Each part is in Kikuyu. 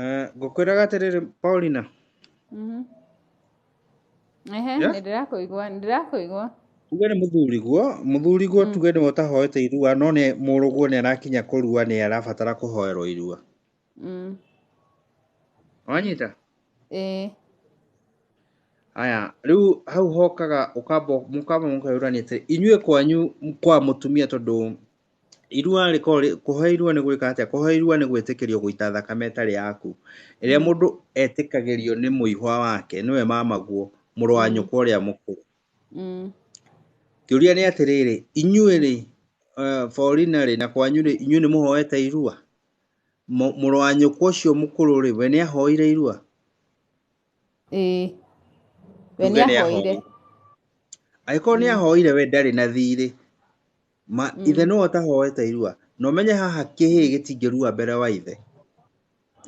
Eh, ngũkwĩraga atĩrĩrĩ paulina Mhm. Ehe, Yeah? nĩndĩrakũigua, nĩndĩrakũigua. tuge nĩ mũthuriguo mũthuriguo tuge nĩwe ũtahoete irua no nĩ mũrũguo nĩ arakinya kũrua nĩ arabatara kũhoerwo irua Mm. wanyita Ĩĩ. aya rĩu hau hokaga ũkamba mũkamba mũkeyũrania atĩ inyuĩ kwanyu kwa mũtumia tondũ irua rĩkorwo kũhe irua nĩ gwĩka atĩa kũhe irua nĩ gwĩtĩkĩrio gũita thakame ĩtarĩ yaku ĩrĩa mm. mũndũ etĩkagĩrio nĩ mũihwa wake nĩwe mamaguo mũrũ wa mm. nyũkwa ũrĩa mũkũrũ mm. kĩũria nĩ atĩrĩrĩ inyuĩ rĩ eh, forina rĩ na kwanyu rĩ inyuĩ nĩ mũhoete irua mũrũ wa nyũkwa ũcio mũkũrũ rĩ we nĩ ahoire irua ĩĩ we nĩ ahoire angĩkorwo nĩ ahoire we ndarĩ na thiirĩ ma mm. ithe nĩwe ũtahoete irua na ũmenye haha kĩhĩ gĩtingĩrua mbere wa ithe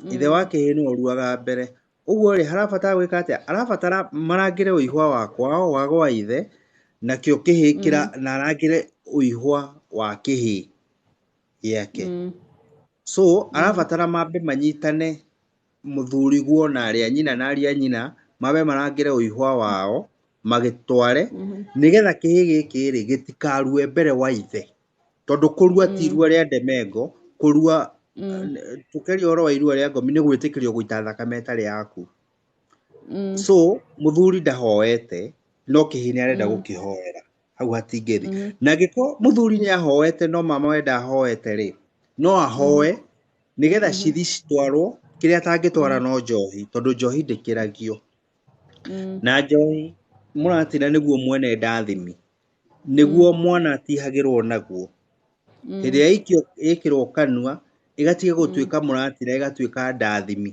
mm. ithe wa kĩhĩ nĩwe ũruaga mbere ũguo rĩ harabatara gwĩka atĩa arabatara marangĩre ũihwa wa kwao wa gwa ithe nakĩo kĩhĩ kĩra mm. na arangĩre ũihwa wa kĩhĩ gĩake mm. so arabatara mambe manyitane mũthuriguo na arĩ a nyina na arĩ a nyina mabe marangĩre ũihwa wao magĩtware mhm. nĩgetha kĩhĩ gĩkĩ rĩ gĩtikarue mbere wa ithe tondũ kũrua ti mm. irua rĩa ndemengo kũrua mm. tũkeria ũhoro wa irua rĩa ngomi nĩ gwĩtĩkĩrio gũita thakame ĩtarĩ yaku mm. so mũthuri ndahoete no kĩhĩ nĩ arenda gũkĩhoera hau hatingĩthi mm. na angĩkorwo mũthuri nĩ ahoete no mama wenda ahoete rĩ no ahoe mm. nĩgetha mm-hmm. cithi citwarwo kĩrĩa atangĩtwara mm. no njohi tondũ njohi ndĩkĩragio mm. na njohi mũratina nĩguo mwene ndathimi nĩguo mm. mwana atihagĩrwo naguo Mm. hĩndĩ ĩrĩa ĩikio ĩkĩrwo kanua ĩgatiga gũtuĩka mũratira ĩgatuĩka ndathimi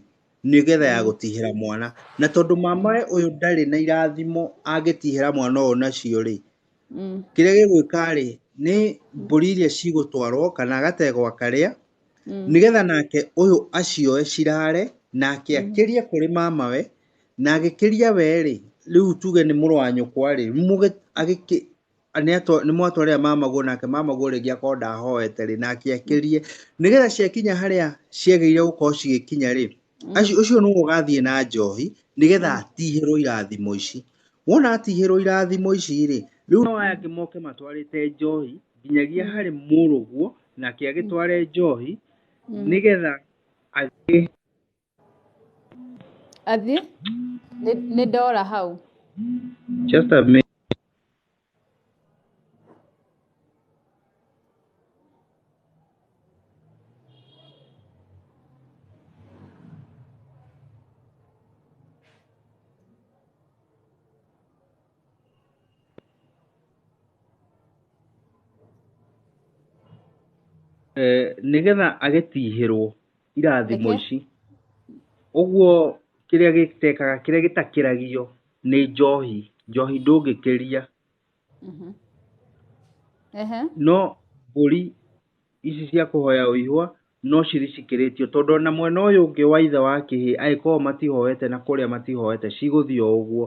nĩgetha ya gũtihĩra mwana na tondũ mama we ũyũ ndarĩ na irathimo angĩtihĩra mwana ũyũ nacio rĩ Mm. kĩrĩa gĩgwĩka rĩ nĩ mbũri iria cigũtwarwo kana agategwa karĩa Mm. nĩgetha nake ũyũ acioe cirare nake akĩrie kũrĩ mama we na agĩkĩria we rĩ rĩu tuge nĩ mũrũ wa nyũkwa rĩ mũgĩ- agĩkĩ- nĩ mwatwarĩra mamaguo nake mamaguo rĩngĩ akorwo ndahoete rĩ nake akĩrie nĩgetha ciakinya harĩa ciagĩrĩire gũkorwo cigĩkinya rĩ ũcio nĩwe ũgathiĩ na njohi nĩgetha atihĩrwo irathimo ici wona atihĩrwo irathimo ici rĩ rĩu no aya angĩ moke matwarĩte njohi nginyagia harĩ mũrũguo nake agĩtware njohi nĩgetha agĩ Athiĩ? Nĩ- Nĩ ndora hau. Just a minute. Eh, nĩgetha agĩtihĩrwo irathimo Reke. ici ũguo kĩrĩa gĩtekaga kĩrĩa gĩtakĩragio nĩ njohi njohi ndũngĩkĩria Mhm. Ehe. no mbũri ici cia kũhoya ũihwa no cirĩ cikĩrĩtio tondũ ona mwena ũyũ ũngĩ wa ithe wa kĩhĩ agĩkorwo matihoete na kũrĩa matihoete cigũthiĩ o ũguo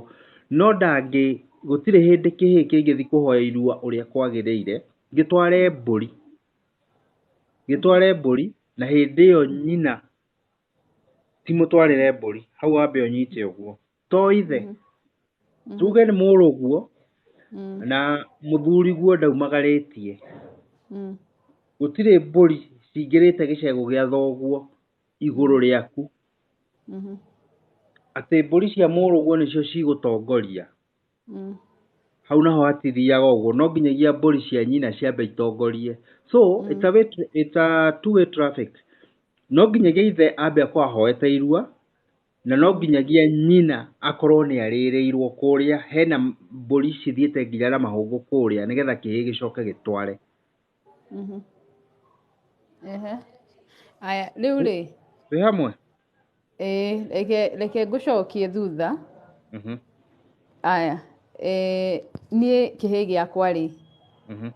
no ndangĩ gũtirĩ hĩndĩ kĩhĩ kĩngĩthi kũhoya irua ũrĩa kwagĩrĩire gĩtware mbũri gĩtware mbũri na hĩndĩ ĩyo nyina timũtwarĩre mbũri hau wambe ũnyite ũguo to ithe Mhm. tuge nĩ mũrũguo Mm. na mũthuri guo ndaumagarĩtie Mm. gũtirĩ mbũri cingĩrĩte gĩcegũ gĩa thoguo igũrũ rĩaku Mhm. atĩ mbũri cia mũrũguo nĩcio cigũtongoria mm. hau naho hatithiaga ũguo no nginyagia mbũri cia nyina ciambe itongorie so mm. it's a way, it's a two way traffic no nginyagia ithe ambe akorwo ahoete irua na no nginyagia nyina akorwo nĩ arĩrĩirwo kũrĩa hena mbũri cithiĩte nginya na mahũngũ kũrĩa nĩgetha kĩhĩ gĩcoke gĩtware Mhm. Ehe. Aya, rĩu rĩ twĩ hamwe ĩĩ, reke reke ngũcokie thutha Mhm, aya eh, niĩ kĩhĩ gĩakwa rĩ mhm,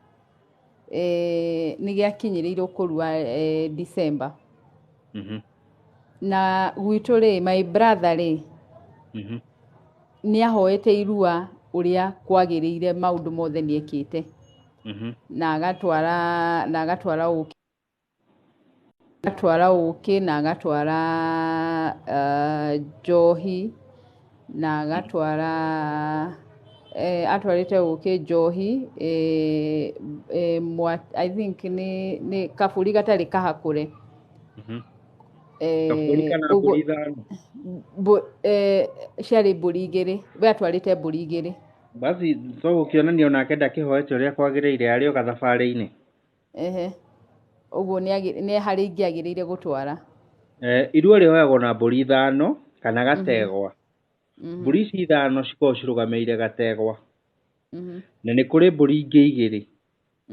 eh, nĩ gĩakinyĩrĩirwo kũrua eh, December mhm, na gwitũ rĩ my brother rĩ mhm, nĩ ahoete irua ũrĩa kwagĩrĩire maũndũ mothe nĩ ekĩte Mhm. na agatwara na agatwara ũkĩ agatwara ũkĩ na agatwara ah, njohi na agatwara eh, atwarĩte ũkĩ njohi eh, eh, mwa, I think nĩ, nĩ kabũri gatarĩ kahakũre Mhm. eh, Kabũri kana ũguo- mbũri ithano. mbũ- eh, ciarĩ mbũri igĩrĩ we atwarĩte mbũri igĩrĩ basi to gũkĩonania onake ndakĩhoete ũrĩa kwagĩrĩire arĩ o gathabarĩ-inĩ ehe ũguo nĩ agĩ- nĩ harĩ ingĩ agĩrĩire gũtwara Eh, iruo rĩoyagwo na mbũri ithano kana gategwa Mhm, mbũri ici ithano cikoragwo cirũgamĩrĩire gategwa mhm, na nĩ kũrĩ mbũri ingĩ igĩrĩ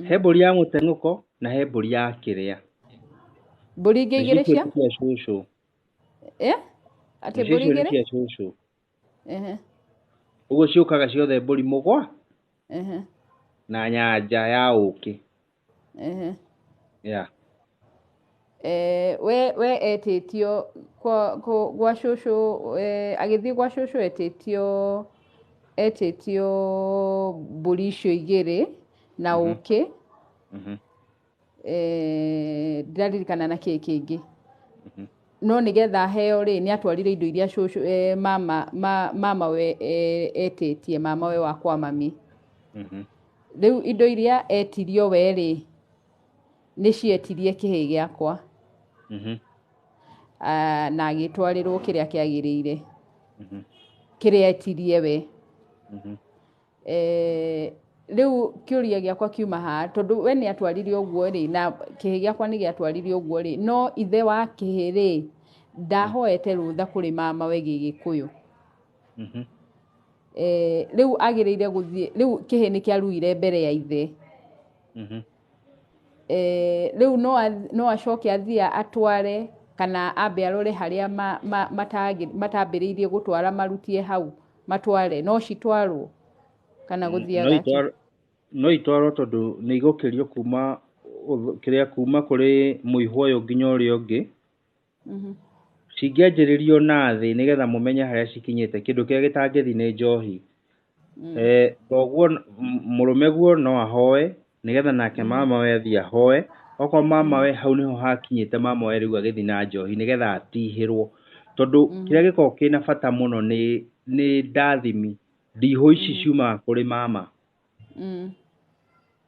he mbũri ya mũteng'ũko na he mbũri ya kĩrĩa mbũri ingĩ igĩrĩ cia cia cũcũ Eh? atĩ Nĩcio mbũri icio nĩ igĩrĩ cia cũcũ ehe ũguo ciũkaga ciothe mbũri mũgwa ehe na nyanja ya ũkĩ ehe ya Eh, we we etĩtio kwa kũ- gwa cũcũ eh, agĩthiĩ gwa cũcũ etĩtio etĩtio mbũri icio igĩrĩ na ũkĩ Mhm. eh, ndiraririkana na kĩĩ kĩngĩ Mhm. no nĩgetha heo rĩ nĩ atwarire indo iria cũcũ eh, mama, ma, mama we eh, etĩtie mama we wakwa mami Mhm. rĩu indo iria etirio we rĩ nĩ cietirie kĩhĩ gĩakwa Mhm. ah, na agĩtwarĩrwo kĩrĩa kĩagĩrĩire Mhm. kĩrĩa etirie we Mhm. eh, riu kiuria giakwa kiuma ha tondu we ni atwarire uguo ri na kihi giakwa ni giatwarire uguo ri no ithe wa kihi ri ndahoete rutha kuri mama we gigikuyu Mhm. eh, riu agirire guthie riu kihi ni kiaruire mbere ya ithe Mhm. eh, rĩu no ath- no acoke athiĩ atware kana ambe arore harĩa ma- ma- matangĩ- matambĩrĩirie gũtwara marutie hau matware no citwarwo kana no gũthiaga atĩa? itwarwo no itwarwo tondũ nĩ igũkĩrio kuma ũth- kĩrĩa kuma kũrĩ mũihwo ũyũ nginya ũrĩa ũngĩ Mhm. cingĩanjĩrĩrio na thĩ nĩgetha mũmenye harĩa cikinyĩte kĩndũ kĩrĩa gĩtangĩthi nĩ njohi Mm. Eh, koguo n- m- mũrũme guo no ahoe nĩgetha nake mamawe athiĩ ahoe okorwo mamawe hau nĩho hakinyĩte mamawe rĩu agĩthi na njohi nĩgetha atihĩrwo tondũ Mhm. kĩrĩa gĩkoragwo kĩna bata mũno nĩ nĩ ndathimi ndihũ ici ciumaga kũrĩ mama Mm.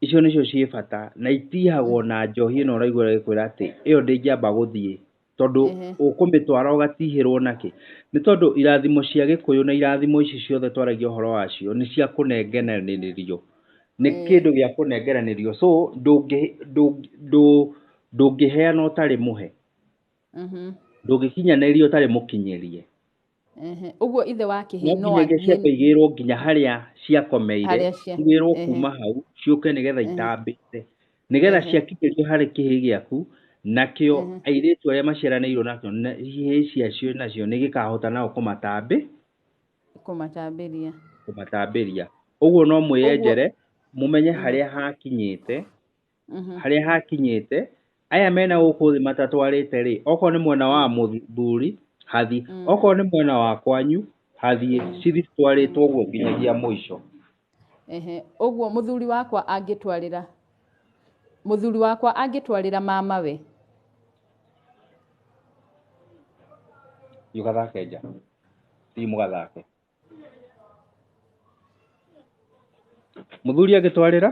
icio nĩcio ciĩ bata na itihagwo na njohi ĩno ũraigua ĩkwĩra atĩ ĩyo ndĩngĩamba gũthiĩ tondũ Ehe. ũkũmĩtwara ũgatihĩrwo nakĩ nĩ tondũ irathimo cia gĩkũyũ na irathimo ici ciothe twaragia ũhoro wacio nĩ cia kũnengeranĩrio nĩ Mm. kĩndũ gĩa kũnengeranĩrio so ndũngĩ- ndũngĩ- ndũ- ndũngĩheana ũtarĩ mũhe Mhm. ndũngĩkinyanĩria ũtarĩ mũkinyĩrie ũguo ithe wa kĩhĩĩ no nginya ciambe igĩrwo nginya harĩa ciakomeire igĩrwo kuma hau ciũke nĩgetha itambĩte nĩgetha ciakinyĩrio harĩ kĩhĩĩ gĩaku nakĩo airĩtu arĩa maciaranĩirwo nakĩo ihĩĩ ciacio nacio nĩ gĩkahota nao kũmatambĩ kũmatambĩria kũmatambĩria ũguo no mwĩyenjere mũmenye harĩa hakinyĩte Mhm. harĩa hakinyĩte aya mena gũkũ thĩ matatwarĩte rĩ okorwo nĩ mwena wa mũthuri hathi Mm. okorwo nĩ mwena wa kwanyu hathiĩ cithi twarĩtwo ũguo nginyagia mũico Ehe, ũguo mũthuri wakwa angĩtwarĩra mũthuri wakwa angĩtwarĩra mama we thiĩ ũgathake nja thiĩ mũgathake mũthuri agĩtwarĩra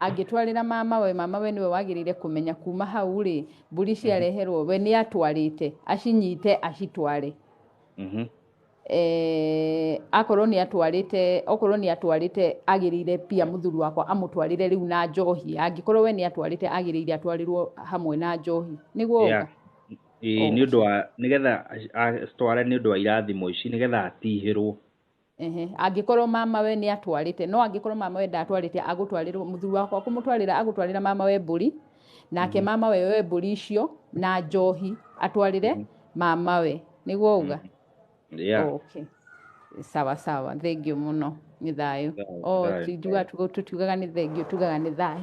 angĩtwarĩra mamawe mamawe nĩwe wagĩrĩire kũmenya kuma hau rĩ mbũri ciareherwo we nĩ atwarĩte acinyite acitware Mhm. eh, akorwo nĩ atwarĩte okorwo nĩ atwarĩte agĩrĩire pia mũthuri wakwa amũtwarĩre rĩu na njohi angĩkorwo we nĩ atwarĩte agĩrĩire atwarĩrwo hamwe na njohi nĩguo Yeah. ĩĩ nĩ ũndũ wa nĩgetha acitware nĩ ũndũ wa irathimo ici nĩgetha atihĩrwo ehe angĩkorwo mamawe nĩ atwarĩte no angĩkorwo mamawe ndatwarĩte agũtwarĩrwo mũthuri wakwa kũmũtwarĩra agũtwarĩra mamawe mbũri nake mm. mamawe we mbũri icio na njohi atwarĩre mm. mamawe nĩguo uga mm. yeah. oh, okay. sawa sawa thengio mũno nĩ thayũ oh, tũtiugaga nĩ thengio tugaga nĩ thayũ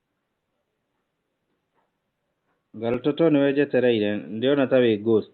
Garototo nĩwe njetereire, ndĩrona ta wĩ ghost.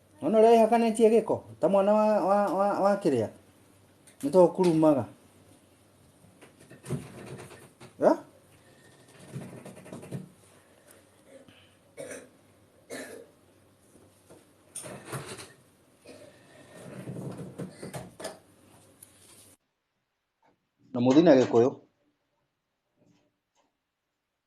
Ona ũrĩa wĩhakanĩtie gĩko ta mwana wa, wa, wa, wa kĩrĩa nĩ to ũkurumaga Eh? na mũthina gĩkũyũ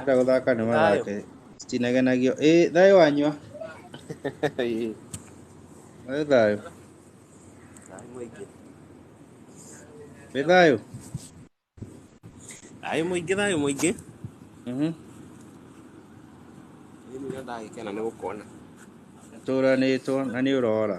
Enda guthaka ni mathake. Citinagenagio. Eh, thayo wanyua. Ĩĩ, Wĩ thayo. Thayũ mũingĩ. Wĩ thayo. Thayũ mũingĩ, thayũ mũingĩ. Mhm. Mimi nĩ ndagĩkena nĩ gũkuona. Tũranĩtwo na nĩ ũrora.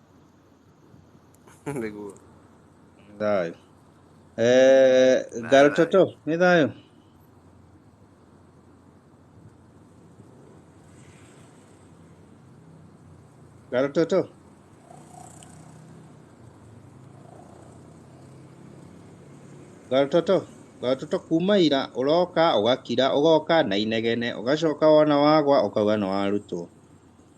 nĩguo Nĩ thayũ Eh, gal toto nĩ thayũ gal toto gal toto gal toto kuma ira ũroka ũgakira ũgoka na inegene ũgacoka wona wagwa ũkauga nĩ warutwo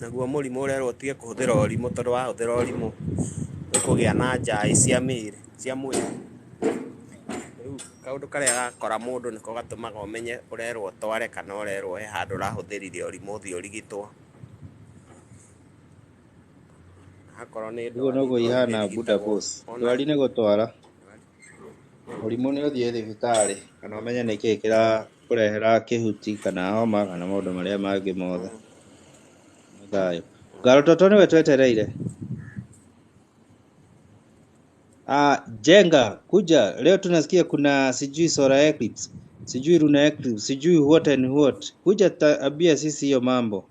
Naguo mũrimũ ũrerwo ũtige kũhũthĩra ũrimũ tondũ wahũthĩra ũrimũ nĩ ũkũgĩa na njaĩ cia mĩĩrĩ, cia mwĩrĩ. Rĩu kaũndũ karĩa gakora mũndũ nĩko gatũmaga ũmenye ũrerwo ũtware kana ũrerwo he handũ ũrahũthĩrire ũrimũ ũthiĩ ũrigitwo. Akorwo nĩ ndwari. Ũguo noguo ihana buda boss. Ndwari nĩ gũtwara. Mũrimũ nĩ ũthiĩ thibitarĩ kana ũmenye nĩkĩ kĩrakũrehera kĩhuti kana homa kana maũndũ marĩa mangĩ mothe. Nĩ thayũ. Garototo nĩwe twetereire. Ah, Jenga, kuja, leo tunasikia kuna sijui solar eclipse, sijui lunar eclipse, sijui what and what. Kuja ta- ambia sisi hiyo mambo.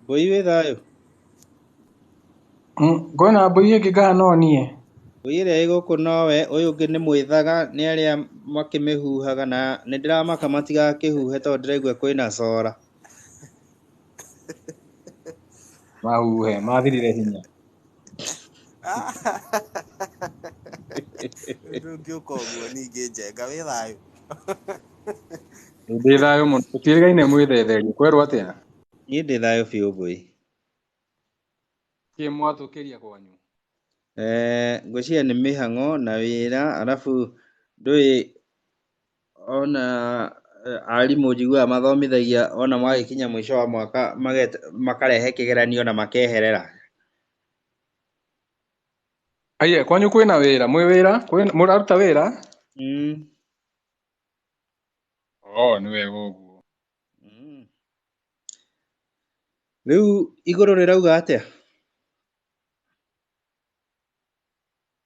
Mbũi wĩ thayũ? Mm, ngwĩna mbũi ĩngĩ ngaha no niĩ. Mbũi ĩrĩa ĩ gũkũ nowe, ũyũ ũngĩ nĩ mwĩthaga, nĩ arĩa makĩmĩhuhaga na nĩ ndĩramaka matigakĩhuhe tondũ ndĩraigua kwĩna cora. mahuhe mathirire hinya ndũngĩũka ũguo ningĩ njenga wĩ thayũ ndĩ thayũ mũno tũtiĩrĩgaine mwĩthetherio kwerwo atĩa niĩ ndĩ thayũ biũ ngũi kä mwatå kä ria kwanyu Eh, ngwĩciria nĩ mĩhang'o na wĩra arabu ndũĩ ona eh, arimũ njiguaga mathomithagia ona magĩkinya mũico wa mwaka maget- makarehe kĩgeranio na makeherera aiye kwanyu kwĩna wĩra mwĩ wĩra Kwĩna- mũraruta wĩra mm. o nĩ wega ũguo Mm. rĩu igũrũ rĩrauga atĩa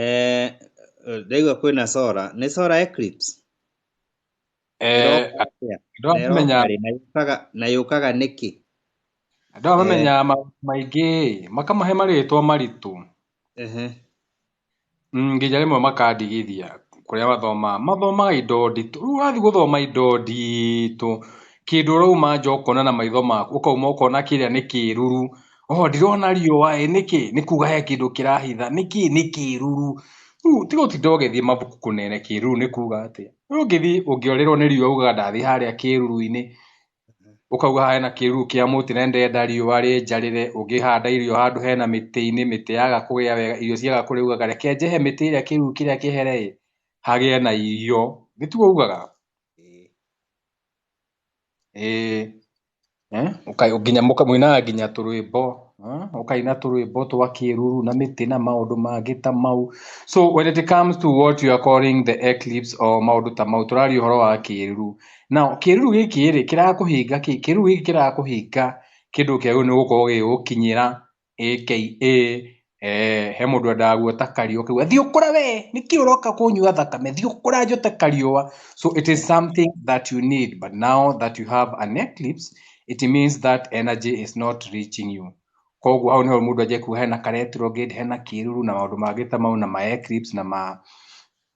eh, ndaigua kwĩna sora nĩ sora eclipse eh, na yũkaga nĩkĩ andũ aya mamenyaga eh. maingĩ makamahe marĩtwa maritũ Mm, nginya rĩmwe makandigithia kũrĩa mathomaga mathomaga indo nditũ rĩu ũrathiĩ gũthoma indo nditũ kĩndũ ũrauma nja ũkona na maitho maku ũkauma ũkona kĩrĩa nĩ kĩruru oho ndirona riũa ĩ nĩkĩ nĩ kuga he kĩndũ kĩrahitha nĩkĩ nĩ kĩruru rĩu tiga ũtinda ũgĩthiĩ mabuku kũnene kĩruru nĩ kuga atĩa rĩu ũngĩthiĩ ũngĩorĩrwo nĩ riũa ugaga ndathiĩ harĩa kĩruru-inĩ ũkauga haha hena kĩruru kĩa mũtĩ na ndĩrenda riũa rĩnjarĩre ũngĩhanda irio handũ hena mĩtĩ-inĩ mĩtĩ yaga kũgĩa wega irio ciaga kũrĩa ugaga reke njehe mĩtĩ ĩrĩa kĩruru kĩrĩa kĩhere ĩ hagĩe na irio nĩtuo ugaga ĩĩ Eh, ũka- nginya mũka- mũinaga nginya tũrwĩmbo eh, ũkaina tũrwĩmbo twa kĩruru na mĩtĩ na maũndũ mangĩ ta mau so when it comes to what you are calling the eclipse or maũndũ ta mau tũraria ũhoro wa kĩruru na kĩruru gĩkĩ rĩ kĩrakũhinga kĩ kĩruru gĩkĩ kĩrakũhinga kĩndũ kĩagĩrĩirwo nĩ gũkorwo gĩgĩgũkinyĩra aka eh, he mũndũ endaga guota kariũa kau thiĩ ũkũre we nĩkĩ ũroka kũnyua thakame thiĩ ũkũra njote kariũa so it is something that you need but now that you have an eclipse it means that energy is not reaching you koguo hau nĩho mũndũ anjia kuga hena ka retrograde hena kĩruru na maũndũ mangĩ ta mau na ma eclipse na ma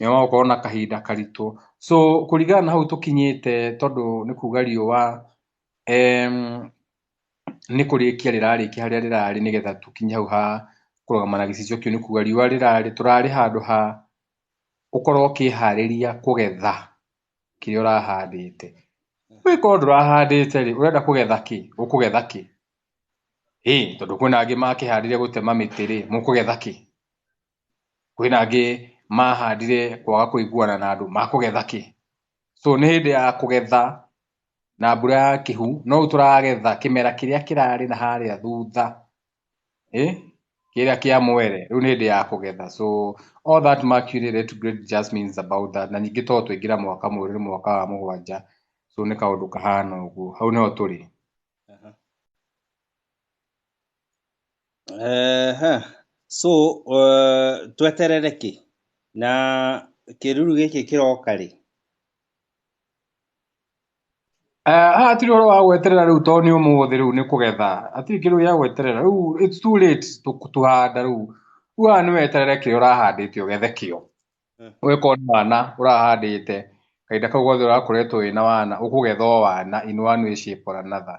nĩ wakorwo na kahinda karitũ so kũringana na hau tũkinyĩte tondũ nĩ kuga riũa em, nĩ kũrĩkia rĩrarĩkia harĩa rĩrarĩ nĩgetha tũkinye hau ha kũrũgama na gĩcicio kĩu nĩ kuga riũa rĩrarĩ tũrarĩ handũ ha ũkorwo ũkĩharĩria kũgetha kĩrĩa ũrahandĩte wĩkorwo ndũrahandĩte rĩ ũrenda kũgetha kĩ ũkũgetha kĩ ĩ tondũ kwĩna angĩ makĩhandire gũtema mĩtĩ rĩ mũkũgetha kĩ kwĩna angĩ mahandire kwaga kũiguana na andũ, makũgetha kĩ? So nĩ hĩndĩ ya kũgetha na mbura ya kĩhu, no rĩu tũragetha kĩmera kĩrĩa kĩrarĩ na harĩa thutha, ĩ, kĩrĩa kĩa mwere, rĩu nĩ hĩndĩ ya kũgetha. So all that mercury retrograde just means about that, na ningĩ to twaingĩra mwaka mwerũ nĩ mwaka wa mũgwanja, so nĩ kaũndũ kahana ũguo, hau nĩho tũrĩ. Eh, ha. so uh, tweterere kĩ na kĩruru gĩkĩ kĩroka rĩ Eh, haha hatirĩ ũhoro wa gweterera rĩu tondũ nĩ ũmũthĩ rĩu nĩ kũgetha hatirĩ kĩndũ gĩa gweterera rĩu it's too late tũ- tũhanda rĩu rĩu haha nĩ weterere kĩo ũrahandĩte ũgethe kĩo Mm. ũgĩkorwo nĩ wana ũrahandĩte kahinda kau gothe ũrakoretwo wĩna wana ũkũgetha o wana in one way shape or another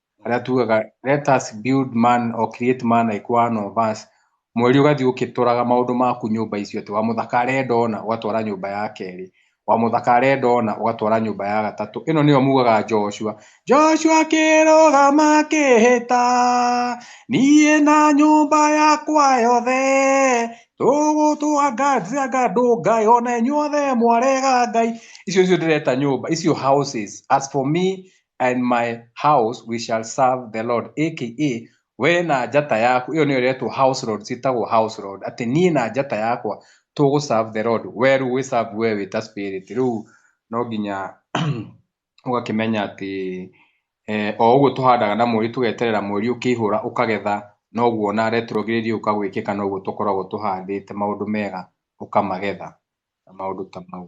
arĩa tugaga let us build man or create man like one of us mweri ũgathiĩ ũkĩtũraga maũndũ maku nyũmba icio atĩ wa mũthaka arenda ona ũgatwara nyũmba ya kerĩ wa mũthaka arenda ona ũgatwara nyũmba ya gatatũ ĩno nĩyo mugaga Joshua Joshua kĩrũgama kĩhĩta niĩ na nyũmba yakwa yothe tũgũtũanganjia ngandũ ngai ona inyuothe mwarega ngai icio icio ndĩreta nyũmba icio houses as for me and my house we shall serve the lord aka we na njata yaku iyo niyo iretwo house road citagwo house road ati nie na njata yakwa tugu serve the lord we riu wi serve we wi ta spirit riu no nginya ugakimenya ati eh, o ũguo tũhandaga na mweri tũgeterera mweri ũkĩihũra ũkagetha noguo na retrogĩrĩria ũkagwĩkĩka noguo tũkoragwo tũhandĩte maũndũ mega ũkamagetha na maũndũ ta mau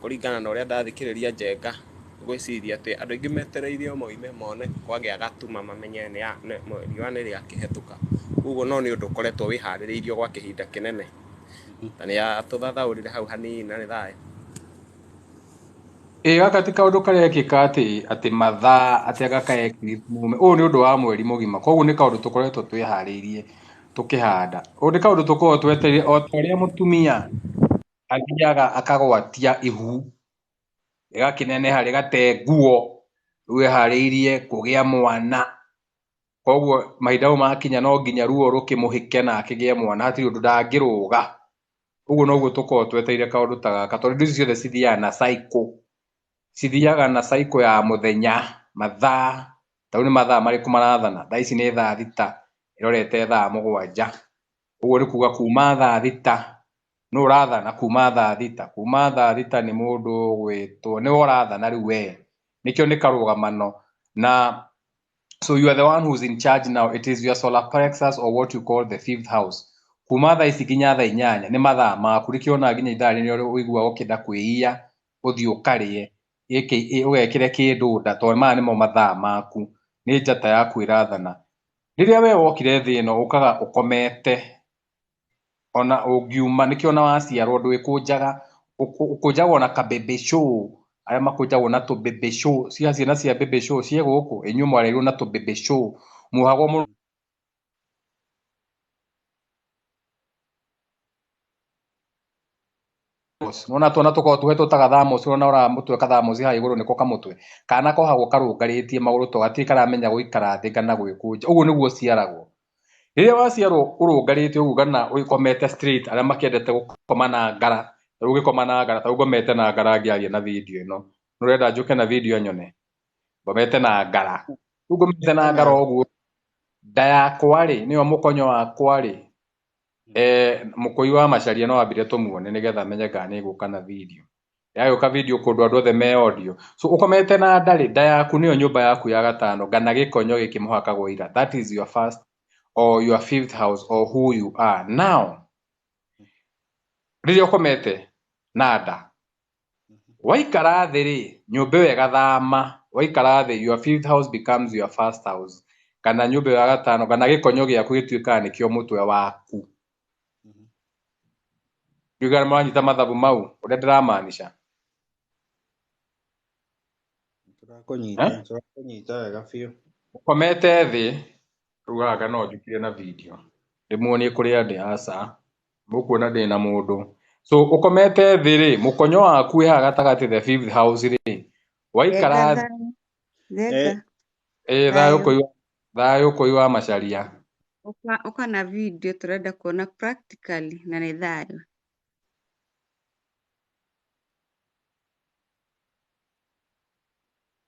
Kũringana na ũrĩa ndathikĩrĩria Njenga, ngwĩciria atĩ andũ aingĩ metereire o moime mone kwagĩa gatuma mamenye riũa nĩ rĩakĩhĩtũka. Ũguo no nĩ ũndũ ũkoretwo wĩharĩrĩirio gwa kĩhinda kĩnene. Na nĩ atũthathaũrire hau hanini na nĩ thayũ. Ĩĩ gaka ti kaũndũ karekĩka atĩ atĩ mathaa atĩ anga kaekirwo mume. Ũyũ nĩ ũndũ wa mweri mũgima. Koguo nĩ kaũndũ tũkoretwo twĩharĩirie tũkĩhanda. Ũyũ nĩ kaũndũ tũkoragwo twetereire o ta ũrĩa mũtumia... athiaga akagwatia ihu rĩgakĩneneha rĩgate nguo rĩu eharĩirie kũgĩa mwana, koguo mahinda mau makinya no nginya ruo rũkĩmũhĩke na akĩgĩe mwana hatirĩ ũndũ ndangĩrũga, ũguo noguo tũkoragwo twetereire kaũndũ ta gaka tondũ indo ici ciothe cithiaga na cycle, cithiaga na cycle ya mũthenya, mathaa, ta rĩu nĩ mathaa marĩkũ marathana, thaa ici nĩ thaa thita ĩrorete thaa mũgwanja, Ũguo nĩ kuga kuma thaa thita nũ ũrathana kuma thaa thita, kuma thaa thita nĩ mũndũ ũgwĩtwo nĩwe ũrathana rĩu wee, nĩkĩo nĩ karũgamano na so you are the one who is in charge now, it is your solar plexus or what you call the fifth house. Kuma thaa ici nginya thaa inyanya nĩ mathaa maku, nĩkĩo wonaga nginya ithaa rĩrĩ nĩrĩo ũiguaga ũkĩenda kwĩiya ũthiĩ ũkarĩe, ũgekĩre kĩndũ nda tondũ maya nĩmo mathaa maku, nĩ njata yaku ĩrathana. Rĩrĩa we wokire thĩ ĩno ũkaga ũkomete, ona ũngiuma nĩkĩo ona waciarwo ndwĩkũnjaga, ũkũnjagwo na ka baby show, arĩa makũnjagwo na tũ baby show, cia ciana cia baby show ciĩ gũkũ? ĩ inyuĩ mwarerirwo na tũ baby show, muohagwo nona tuona tũkoragwo tũhetwo ta gathamosi nona ũrora mũtwe kathamosi haha igũrũ nĩko kamũtwe kana kohagwo karũngarĩtie magũrũ to gatirĩ karamenya gũikara thĩ kana gwĩkũnja ũguo nĩguo ũciaragwo rĩrĩa waciarwo ũrũngarĩte ũguo kana ũgĩkomete straight arĩa makĩendete gũkoma na ngara rĩu ũgĩkoma na ngara ta rĩu ngomete na ngara ngĩaria na video ĩno nĩũrenda njũke na video nyone ngomete na ngara rĩu ngomete na ngara ũguo nda yakwa rĩ nĩyo mũkonyo wakwa rĩ Eh, mũkũi wa macaria no ambire tũmuone nĩgetha menye kana nĩ gũka na video yagĩũka video kũndũ andũ othe me audio so ũkomete na ndarĩ nda yaku nĩyo nyũmba yaku ya gatano ngana gĩkonyo gĩkĩ mũhakagwo ira that is your first or your fifth house or who you are now rĩrĩa ũkomete na nda waikara thĩ rĩ nyũmba ĩyo ĩgathama waikara thĩ your fifth house becomes your first house kana nyũmba ĩyo ya gatano kana gĩkonyo gĩaku gĩtuĩkaga nĩkĩo mũtwe waku ndigana maranyita mathabu mau ũrĩa ndĩramaanisha tũrakũnyita Eh? tũrakũnyita wega biũ ũkomete thĩ rugaga no njũkire na video ndĩmuonie kũrĩa ndĩ aca Mũkuona ndĩ na mũndũ so ũkomete thĩ rĩ mũkonyo waku wĩ haha gatagatĩ the fifth house rĩ waikara Ngenga thĩ thayũ. Ngenga. ĩ thayũ Thayũ. kũiwa thayũ kũiwa macaria Ũka, ũka na video tũrenda kuona practically na nĩ thayũ.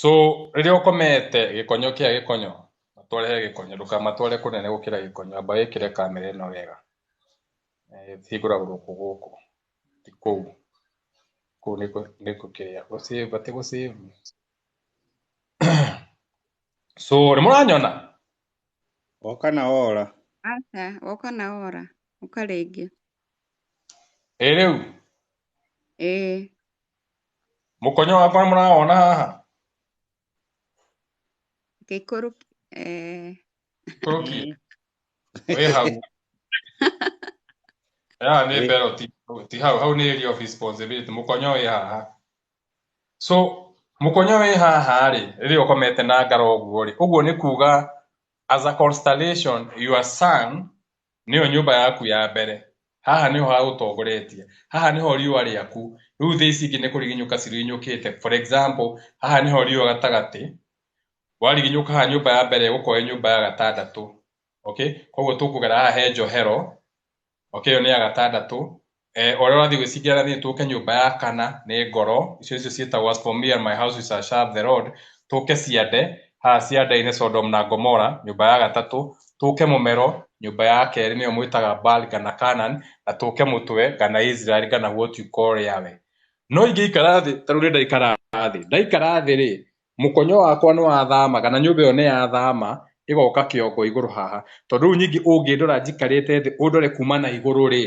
So rĩrĩa ũkomete gĩkonyo kĩa gĩkonyo matware he gĩkonyo ndũkamatware kũnene gũkĩra gĩkonyo amba wĩkĩre kamera ĩno wega hingũragwo gũkũ gũkũ ti kũu kũu nĩ gũkĩrĩa gũsave atĩ gũsave so nĩ mũranyona woka na wora Aca, woka na wora. Ũka rĩngĩ. ĩ rĩu Ĩĩ. Mũkonyo wakwa mũrawona haha? Gĩkũrũ eh, Kũrũki. Wĩ hau. Haha nĩ mbero ti ti hau, hau nĩ area of responsibility. Mũkonyo wĩ haha. So, mũkonyo wĩ haha rĩ, rĩrĩa ũkomete na ngara ũguo rĩ, ũguo nĩ kuga as a constellation your sun nĩyo nyũmba yaku ya mbere, haha nĩho hagũtongoretie, haha nĩho riũa rĩaku, rĩu thĩ ici ingĩ nĩ kũriginyũka ciriginyũkĩte, for example, haha nĩho riũa gatagatĩ, wariginyũka haha nyũmba ya mbere ĩgũkorwo ĩ nyũmba ya gatandatũ, okay, koguo tũkũgera haha he njohero, okay, ĩyo nĩ ya gatandatũ, Eh, ũrĩa ũrathiĩ gwĩciria athiĩ tũke nyũmba ya kana nĩ ngoro icio icio ciĩtagwo as for me and my house we shall serve the Lord tũke ciande haha ciande-inĩ Sodom na Gomora nyũmba ya gatatũ tũke mũmero nyũmba ya kerĩ nĩyo mwĩtaga Baal kana Canaan na tũke mũtwe kana Israel kana what you call Yahweh no ingĩikara thĩ ta rĩu ndaikara thĩ ndaikara thĩ rĩ Mũkonyo wakwa nĩ wathamaga na nyũmba ĩyo nĩ ya thama ĩgoka kĩongo igũrũ haha. Tondũ rĩu ningĩ ũngĩndora njikarĩte thĩ ũndore kuma na igũrũ rĩ,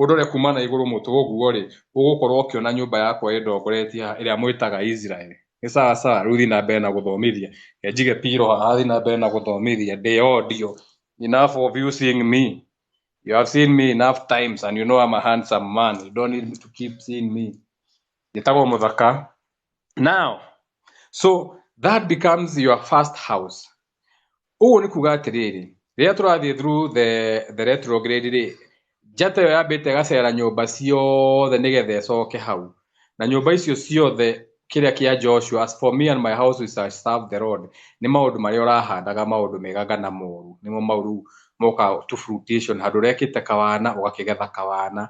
ũndore kuma na igũrũ mũtwe ũguo rĩ, ũgũkorwo ũkĩona nyũmba yakwa ĩndongoretie haha ĩrĩa mwĩtaga Israeli. Nĩ sawa sawa? Rĩu thiĩ na mbere na gũthomithia. Reke njige pillow haha thiĩ na mbere na gũthomithia ndĩ audio. Enough of you seeing me. You have seen me enough times and you know I'm a handsome man. You don't need to keep seeing me. Njĩtagwo mũthaka. now so that becomes your first house ũguo nĩ kuga atĩrĩrĩ rĩrĩa tũrathiĩ through the, the retrograde rĩ njata ĩyo yambĩte ĩgacera nyũmba ciothe nĩgetha ĩcoke hau na nyũmba icio ciothe kĩrĩa kĩa joshua as for me and my house we shall serve the lord nĩ maũndũ marĩa ũrahandaga maũndũ mega kana moru nĩmo mau rĩu moka to fruition handũ ũrekĩte kawana ũgakĩgetha kawana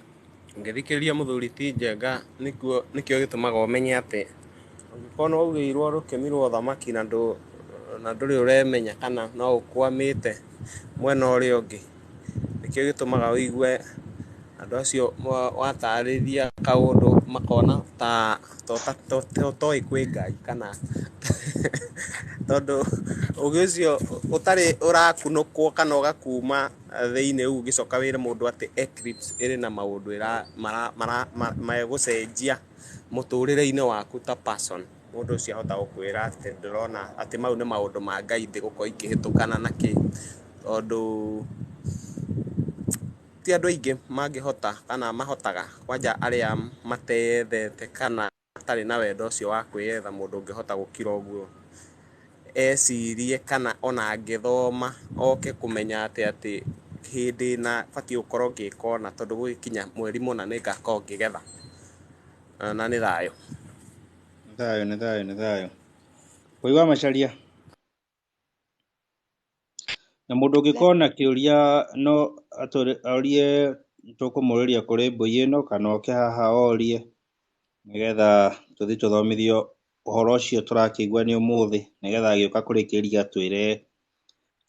Ũngĩthikĩrĩria mũthuri ti Njenga nĩkuo nĩkĩo gĩtũmaga ũmenye atĩ ũngĩkorwo nĩ waugĩirwo rũkĩmi rwa ũthamaki na ndũ na ndũrĩ ũremenya kana no ũkwamĩte mwena ũrĩa ũngĩ, nĩkĩo gĩtũmaga ũigue andũ acio wa- watarĩria kaũndũ makona ta to ta to to toĩ kwĩ Ngai kana tondũ ũgĩ ũcio ũtarĩ ũrakunũkwo kana ũgakuma thĩinĩ ũguo ũngĩcoka wĩre mũndũ atĩ Eclipse ĩrĩ na maũndũ megũcenjia mũtũrĩre-inĩ waku ta person, mũndũ ũcio ahota gũkwĩra atĩ ndũrona atĩ mau nĩ maũndũ ma Ngai ndĩgũkorwo ikĩhĩtũkana na kĩ, tondũ ti andũ aingĩ mangĩhota kana mahotaga kwanja arĩa mateyendete kana... atarĩ na wendo ũcio wa kwĩyetha mũndũ ũngĩhota gũkira ũguo ecirie kana ona angĩthoma oke kũmenya atĩ atĩ hĩndĩ na batiĩ gũkorwo ngĩka ũna tondũ gũgĩkinya mweri mũna nĩ ngakorwo ngĩgetha na nĩ thayũ. Nĩ thayũ nĩ thayũ nĩ thayũ. Wĩ wa Macharia? Na mũndũ ũngĩkorwo na kĩũria no atũre, orie tũkũmũrĩria kũrĩ mbũi ĩno kana oke haha orie nĩgetha tũthiĩ tũthomithio ũhoro ũcio tũrakĩigua nĩ ũmũthĩ nĩgetha agĩũka kũrĩkĩria atwĩre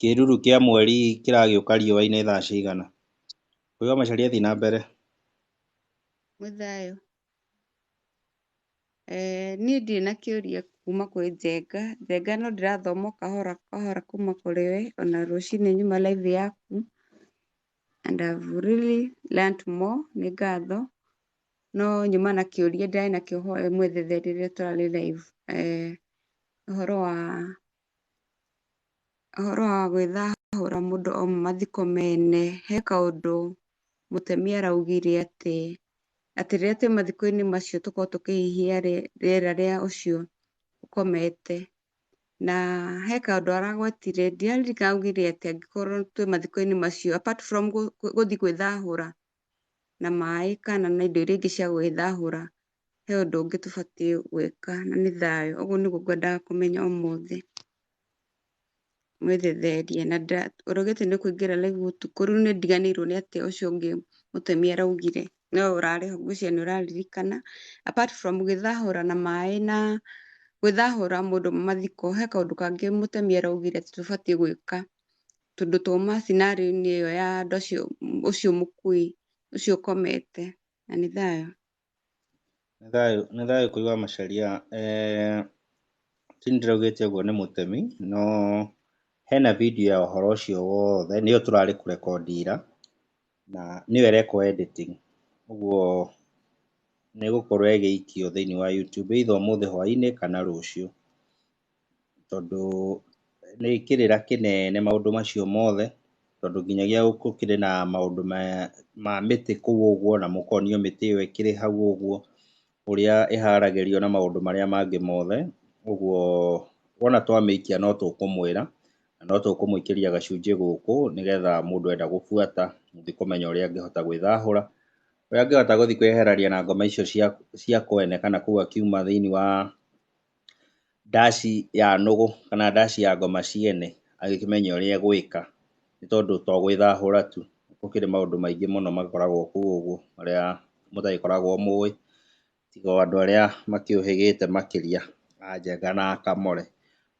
kĩruru kĩa mweri kĩragĩũka riũa-inĩ thaa cigana. Mũico Macharia thiĩ na mbere. Mũthayũ. Niĩ ndirĩ na kĩũria kuma kwĩ Njenga, Njenga no ndĩrathoma o kahora kahora kuma kũrĩ we, ona rũcinĩ nyuma live yaku, and I have really learnt more nĩ ngatho, no nyuma na kĩũria ndĩrarĩ nakĩo hoya ũmwethere rĩrĩa tũrarĩ live ũhoro wa... Ũhoro wa gwĩthahũra mũndũ auma mathiko mene, he kaũndũ mũtemi araugire atĩ, atĩ rĩrĩa twĩ mathiko-inĩ macio tũkoragwo tũkĩhihia rĩera rĩa ũcio ũkomete. Na he kaũndũ aragwetire ndiraririkana augire atĩa angĩkorwo twĩ mathiko-inĩ macio apart from gũthiĩ gwĩthahũra na maĩ kana na indo iria ingĩ cia gwĩthahũra. he ũndũ ũngĩ tũbatiĩ gwĩka na nĩ thayũ. Ũguo nĩguo ngwendaga kũmenya ũmũthĩ. Mwĩthetherie na ũrogete nĩ kũingĩra live ũtukũ, rĩu nĩ ndiganĩirwo nĩ atĩa ũcio ũngĩ mũtemi araugire. No ũrarĩ ho ngwĩciria nĩ ũraririkana. Apart from gwĩthahũra na maĩ na gwĩthahũra mũndũ mathiko, he kaũndũ kangĩ mũtemi araugire atĩ tũbatiĩ gwĩka. Tondũ twauma scenario-inĩ ĩyo ya andũ acio ũcio mũkui, ũcio ũkomete. Na nĩ thayũ. Nĩ thayũ, nĩ thayũ kũrĩ wa Macharia. Eeh ti niĩ ndĩraugĩte ũguo nĩ mũtemi, no hena video ya ũhoro ũcio wothe, nĩyo tũrarĩ kũrekondi ira, na nĩyo ĩrekwo editing. Ũguo nĩ ĩgũkorwo ĩgĩikio thĩiniĩ wa Youtube either ũmũthĩ hwainĩ kana rũciũ. tondũ nĩ kĩrĩra kĩnene maũndũ macio mothe, tondũ nginyagia gũkĩrĩ na maũndũ ma mĩtĩ kũu ũguo na mũkonio mĩtĩ ĩyo ĩkĩrĩ hau ũguo, ũrĩa ĩharagĩrio na maũndũ marĩa mangĩ mothe. Ũguo wona twamĩikia no tũkũmwĩra na no tũkũmũikĩria gacunjĩ gũkũ nĩgetha mũndũ enda gũbuata gũthiĩ kũmenya ũrĩa angĩhota gwĩthahũra. Ũrĩa angĩhota gũthiĩ kwĩyeherania na ngoma icio cia kwene kana kũu akiuma thĩiniĩ wa ndaci ya nũgũ kana ndaci ya ngoma ciene agĩkĩmenya ũrĩa egwĩka nĩ tondũ to gwĩthahũra tu, gũkĩrĩ maũndũ maingĩ mũno makoragwo kũu ũguo marĩa mũtagĩkoragwo mũĩ tiga o andũ arĩa makĩũhĩgĩte makĩria a njenga na a kamore.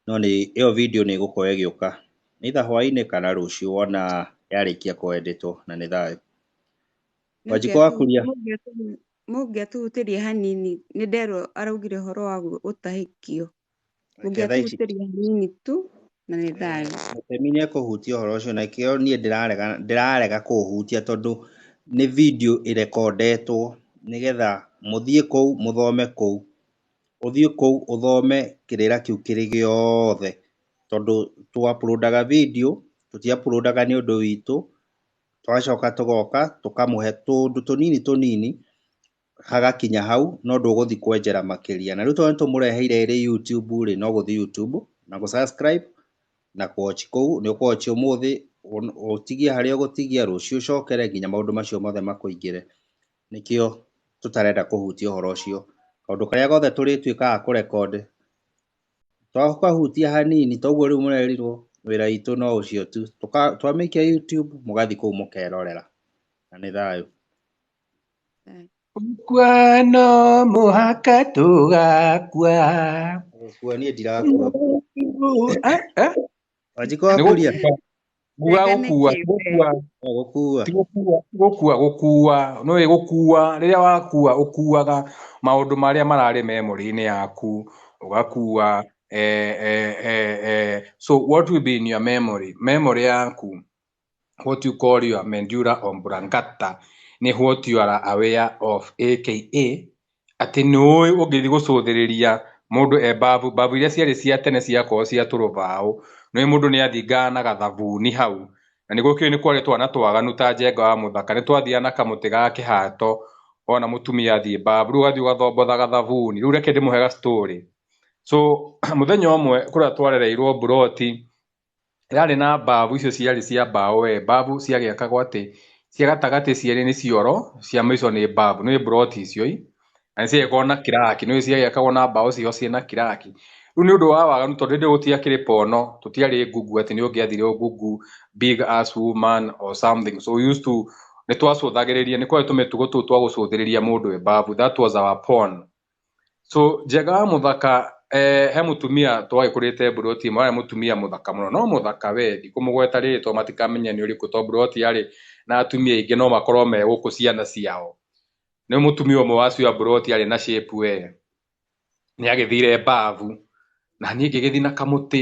No nĩ, ĩyo video nĩ ĩgũkorwo ĩgĩũka either hwainĩ kana rũciũ wona yarĩkia kũ editwo na nĩ thayũ. Wanjikũ wakuria. Mũngĩatũhutĩria hanini, nĩ nderwo araugire ũhoro wa gũtahĩkio. Mũngĩatũhutĩria hanini tu na nĩ thayũ. Mũtemi nĩ ekũhutia ũhoro ũcio na kĩo niĩ ndĩrarega ndĩrarega kũũhutia tondũ nĩ video ĩrekondetwo nĩgetha mũthiĩ kũu mũthome kũu. Ũthiĩ kũu ũthome kĩrĩra kĩu kĩrĩ gĩothe tondũ tũ upload aga video tũti upload aga nĩ ũndũ witũ Tũgacoka tũgoka tũkamũhe tũndũ tũnini tũnini hagakinya hau no ndũgũthiĩ kwenjera makĩria. Na rĩu tondũ nĩ tũmũreheire ĩrĩ YouTube rĩ, no gũthiĩ YouTube na gũ subscribe na kũ watch kũu. Nĩ ũkũ watch ũmũthĩ, ũtigie harĩa ũgũtigia, rũciũ ũcokere nginya maũndũ macio mothe makũingĩre. Nĩkĩo tũtarenda kũhutia ũhoro ũcio. Kaũndũ karĩa gothe tũrĩtuĩka a kũ record Twakũhutia hanini toguo rĩu mũrerirwo wĩra witũ no ũcio tu. Twamĩikia YouTube mũgathiĩ kũu mũkerorera. Na nĩ thayũ. Gũkua no mũhaka tũgakua. Gũkua niĩ ndirakua. Wanjikũ wakũria? Nguga Rĩngĩ nĩ gũkua, kĩũmbe. gũkua, gũkua ti gũkua, ti gũkua, gũkua, nĩ ũĩ gũkua, rĩrĩa wakua, ũkuaga maũndũ marĩa mararĩ memory-inĩ yaku, ũgakua, eh, eh, eh, eh, so what will be in your memory, memory yaku, what you call your mendura oblongata, nĩ what you are aware of, aka Atĩ nĩũĩ ũngĩthiĩ gũcũthĩrĩria mũndũ e mbabu, mbabu iria ciarĩ cia tene ciakoragwo cia tũrũbaũ, nĩũĩ mũndũ nĩathingaga na gathabuni hau, na nĩgũkĩũĩ nĩkwarĩ twana twaganu ta njenga wa mũthaka nĩtwathiaga na kamũtĩ ga kĩhato ona mũtumia athiĩ mbabu, rĩu ũgathiĩ ũgathombotha gathabuni. Rĩu reke ndĩmũhe ga story. So mũthenya ũmwe kũrĩa twarereirwo mburoti, yarĩ na mbavu icio ciarĩ cia mbaũ we mbavu ciagĩakagwo atĩ cia gatagatĩ cierĩ nĩ cioro cia mĩico nĩ mbavu nĩ mburoti icio i na nĩciagĩkorwo na kiraki nĩ ciagĩakagwo na mbaũ ciho ciĩ na kiraki rĩu nĩ ũndũ wa waganu tondũ hĩndĩ ĩyo gũtiakĩrĩ pono tũtiarĩ google atĩ nĩ ũngĩathire ũ google big ass woman or something so we used to nĩ twacũthagĩrĩria nĩ kwarĩ tũmĩtugo tũu twa gũcũthĩrĩria mũndũ e mbavu that was our porn So njega wa muthaka eh, he mutumia twagikũrĩte mburoti ĩmwe arĩ mutumia muthaka muno no muthaka we ndikũmũgweta rĩrĩ to matikamenya nĩ ũrĩkũ to mburoti yarĩ na atumia aingĩ no makorwo me gũkũ ciana ciao nĩ mutumia ũmwe wa cio mburoti arĩ na shape we nĩ agĩthire mbavu na niĩ ngĩgĩthi na kamũtĩ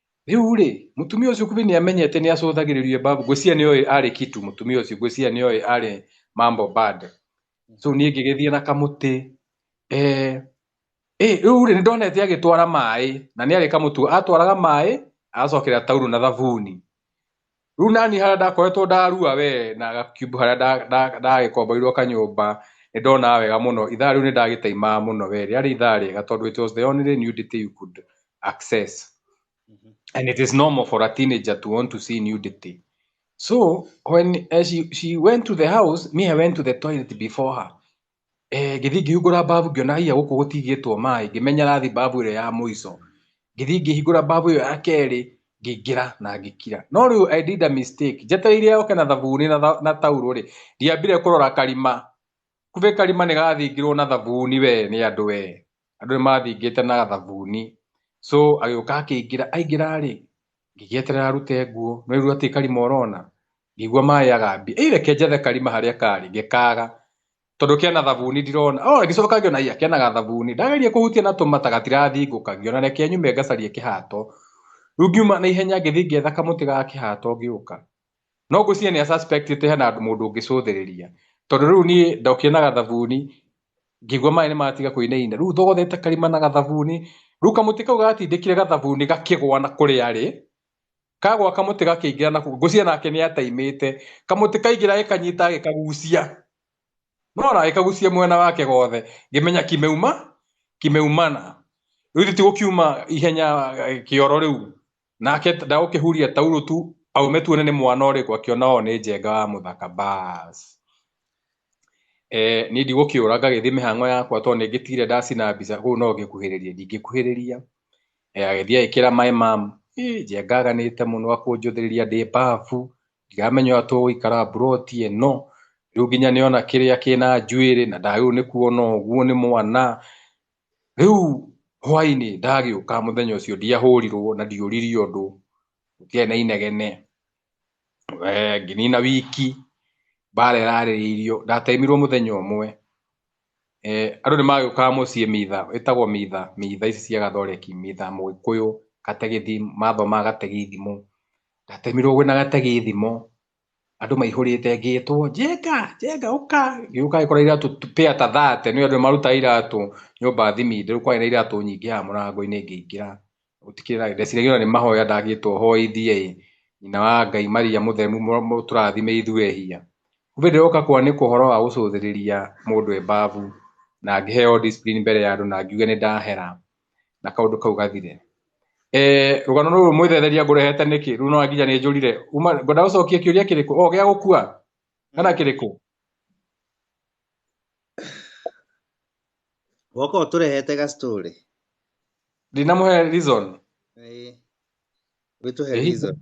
Rĩu-rĩ, mũtumia ũcio kumbe nĩ amenyete nĩ acũthagĩrĩrio babu. Ngwĩciria nĩ oĩ arĩ kitu mũtumia ũcio, ngwĩciria nĩ oĩ arĩ mambo bad. So niĩ ngĩgĩthiĩ na kamũtĩ. Eh, eh, rĩu-rĩ nĩ ndonete agĩtwara maĩ na nĩ arĩ kamũtu. Atwaraga maĩ, agacokerera taurũ na thabuni. rĩu nani harĩa ndakoretwo ndarua we na gakiubu harĩa ndagĩkomboirwo kanyũmba nĩ ndona wega mũno ithaa rĩu nĩ ndagĩtaimaa mũno we rĩarĩ ithaa rĩega tondũ it was the only nudity you could access mhm. and it is normal for a teenager to want to see nudity so when uh, she, she went to the house me I went to the toilet before her Ngĩthiĩ ngĩhingũra mbabu ngĩona aiya gũkũ gũtigĩtwo maĩ, ngĩmenya rathiĩ mbabu ĩrĩa ya mũico. Ngĩthiĩ ngĩhingũra mbabu ĩyo ya kerĩ, ngĩingĩra na ngĩkira. No rĩu I did a mistake, njetereire oke na thabuni na taurũ rĩ, ndiambire kũrora karima, kumbe karima nĩ gathingirwo na thabuni we nĩ andũ we, andũ nĩ mathingĩte na thabuni. So agĩũka akĩingĩra, aingĩra rĩ, ngĩgĩeterera arute nguo, no rĩu gatiĩ karima ũrona, ngĩigua maĩ agambi ĩireke njethe karima harĩa karĩ ngĩkaga tondũ kena thabuni ndirona o ngĩcoka ngĩona iya kena gathabuni ndageria kũhutia na tũmata gatirathingũka ngĩona reke nyume ngacarie kĩhato rĩu ngiuma na ihenya ngĩthiĩ ngĩetha kamũtĩ ga kĩhato ngĩũka no ngwĩciria nĩ a suspect ĩte hena mũndũ ũngĩcũthĩrĩria tondũ rĩu niĩ ndokire na gathabuni ngĩigua maĩ nĩ matiga kũinaina rĩu thogothete karima na gathabuni rĩu kamũtĩ kau gatindĩkire gathabuni gakĩgwa na kũrĩa arĩ kagwa kamũtĩ gakĩingĩra na ngũcia nake nĩ ataimĩte kamũtĩ kaingĩra gĩkanyita gĩkagucia nona gĩkagucia mwena wake gothe ngĩmenya kimeuma kimeumana rĩu ti gũkiuma ihenya eh, kĩoro rĩu nake ndagũkĩhuria taurũ tu aume tuone nĩ mwana ũrĩkũ akĩona o nĩ njenga wa mũthaka bas eh, niĩ ndigũkĩũra ngagĩthiĩ mĩhang'o yakwa tondũ nĩ ngĩtigire ndacina mbica kũu no ngĩkuhĩrĩria ndingĩkuhĩrĩria eh, agĩthiĩ agĩkĩra maĩ mam njengaganĩte mũno akũnjũthĩrĩria ndĩ mbabu ndiramenya ũrĩa tũgũikara mburoti ĩno rĩu nginya nĩona kĩrĩa kĩna njuĩrĩ na ndagĩrĩirwo nĩ kuona ũguo nĩ mwana rĩu hwainĩ ndagĩũka mũthenya ũcio ndiahũrirwo na ndiũriri ũndũ gũtiarĩ na inegene Eh, nginina wiki mbara ĩrarĩrĩirio ndataimirwo mũthenya ũmwe eh, andũ nĩ magĩũkaga mũciĩ mitha ĩtagwo mitha mitha ici cia gathoreki mitha mũgĩkũyũ gategithi mathomaga gategi ithimo ndatemirwo gwĩna gategi ithimo andũ maihũrĩte ngĩtwo njenga njenga ũka gĩũka gĩkora iratũ pĩa ta thate nĩ andũ marutaga iratũ nyũmba thimi ndĩrũkwarĩ na iratũ nyingĩ ya mũrango-inĩ ngĩingĩra gũtikĩrĩ na ndeciragia nĩ mahoya ndagĩtwo hoithie ĩ nyina wa Ngai Maria mũthemu mũtũrathime ithuĩ ehia kumbe ndĩroka kwanĩkwo ũhoro wa gũcũthĩrĩria mũndũ e mbabu na ngĩheo discipline mbere ya andũ na ngiuge nĩ ndahera na kaũndũ kau gathire eh rũgano rũrũ mwĩthetheria ngũrehete nĩkĩ rĩu no nginya nĩ njũrire ngwenda gũcokia kĩũria kĩrĩkũ o gĩa gũkua kana kĩrĩkũ Wako turehete ga story. ndinamũhe reason Eh. Wĩtũhe Ĩĩ. reason.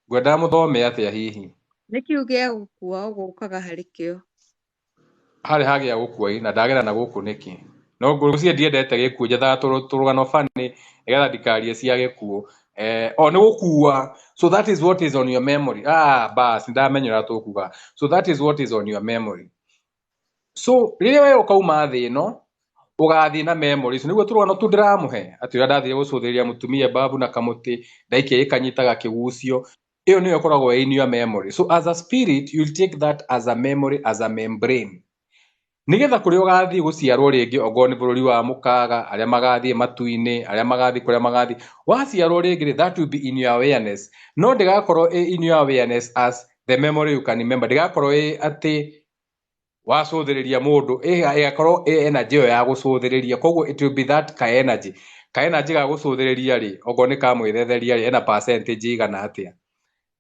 ngwendaga mũthome atĩa hihi nĩ kĩu gĩa gũkua gũkaga harĩ kĩo harĩ hagĩa gũkua ĩ, na ndagera na gũkũ nĩkĩ no ngwĩciria ndiendete gĩkuũ njethaga tũrũ- tũrũgano bani nĩgetha ndikarie cia gĩkuũ eh, o nĩ gũkua so that is what is on your memory ah, bas ndamenyera tũkuga so that is what is on your memory so rĩrĩa we ũkauma thĩ ĩno ũgathiĩ na memories nĩguo tũrũgano tu ndĩramũhe atĩ ũrĩa ndathire gũcũthĩrĩria mũtumia babu na kamũtĩ ndaikia gĩkanyita gakĩgucio ĩyo nĩyo ĩkoragwo ĩ in your memory so as a spirit you'll take that as a memory as a membrane Nĩgetha kũrĩa ũgathiĩ gũciarwo rĩngĩ okorwo nĩ bũrũri wa mũkaga, arĩa magathiĩ matu-inĩ, arĩa magathiĩ kũrĩa magathiĩ, waciarwo rĩngĩ rĩ, that will be in your awareness. No ndĩgakorwo ĩ in your awareness as the memory you can remember. Ndĩgakorwo ĩ atĩ wacũthĩrĩria mũndũ, ĩgakorwo ĩ energy ĩyo ya gũcũthĩrĩria. Koguo it will be that ka energy. Ka energy ga gũcũthĩrĩria rĩ, okorwo nĩ ka mwĩthetheria rĩ, ena percentage ĩigana atĩa.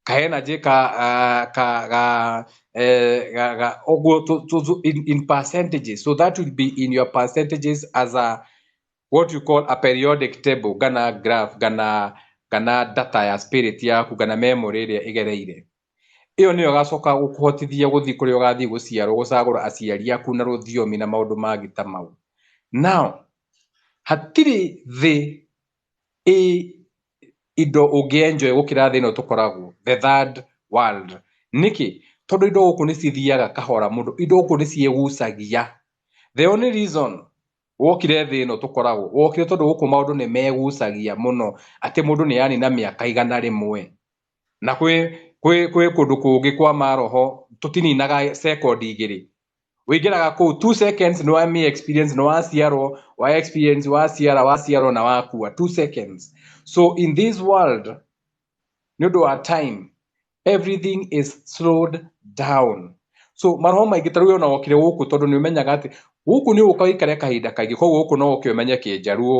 kaena je ka uh, ka ga Eh, to, to, to, in, in percentages. So that will be in your percentages as a what you call a periodic table, gana graph, gana gana data ya spirit yaku, gana memory ĩrĩa ĩgereire. Ĩyo nĩyo gacoka gũkũhotithia gũthiĩ kũrĩa ũgathiĩ gũciarwo gũcagũra aciari aku na rũthiomi na maũndũ mangĩ ta mau. Now, hatirĩ thĩ ĩ indo ũngĩ enjoy gũkĩra thĩ ĩno tũkoragwo the third world nĩkĩ? tondũ indo gũkũ nĩ cithiaga kahora mũno, indo gũkũ nĩ ciĩgucagia, the only reason wokire thĩ ĩno tũkoragwo wokire tondũ gũkũ maũndũ nĩ megucagia mũno atĩ mũndũ nĩ anina mĩaka igana rĩmwe, na kwĩ kũndũ kũngĩ kwa maroho tũtininaga second igĩrĩ wĩingĩraga kũu two seconds nĩ wa mi experience nĩ waciarwo wa experience waciara waciarwo na wakua two seconds so in this world nĩ ũndũ wa time everything is slowed down so maroho maingĩ tarĩu ona wokire gũkũ tondũ nĩ ũmenyaga atĩ gũkũ nĩ ũka wĩikare kahinda kaingĩ koguo gũkũ no ũke ũmenye kĩnjaruo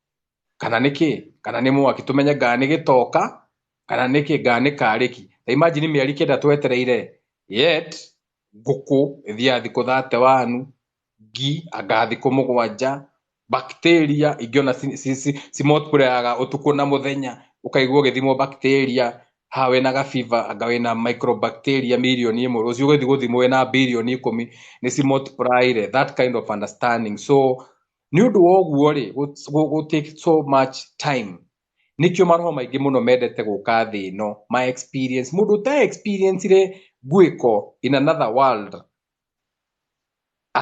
kana nĩ kĩ kana nĩ mwaki tũmenye ngaa nĩ gĩtoka kana nĩ kĩ ngaa nĩ karĩki ta imagine mĩeri kenda twetereire yet ngũkũ ĩthiaga thikũ thate wanu ngi anga thikũ mũgwanja bacteria ingĩ ona ci, ci, ci, ci multiplyaga ũtukũ na mũthenya ũkaigua ũgĩthimwo bacteria ha wĩna gabiba anga wĩna microbacteria mirioni ĩmwe rũciũ ũgĩthi gũthimwo wĩna birioni ikũmi nĩ ci multiplyire that kind of understanding so nĩ ũndũ wa ũguo-rĩ gũ take so much time nĩkĩo maroho maingĩ mũno mendete gũka thĩ ĩno ma experience mũndũ ũta experience re ngwĩko in another world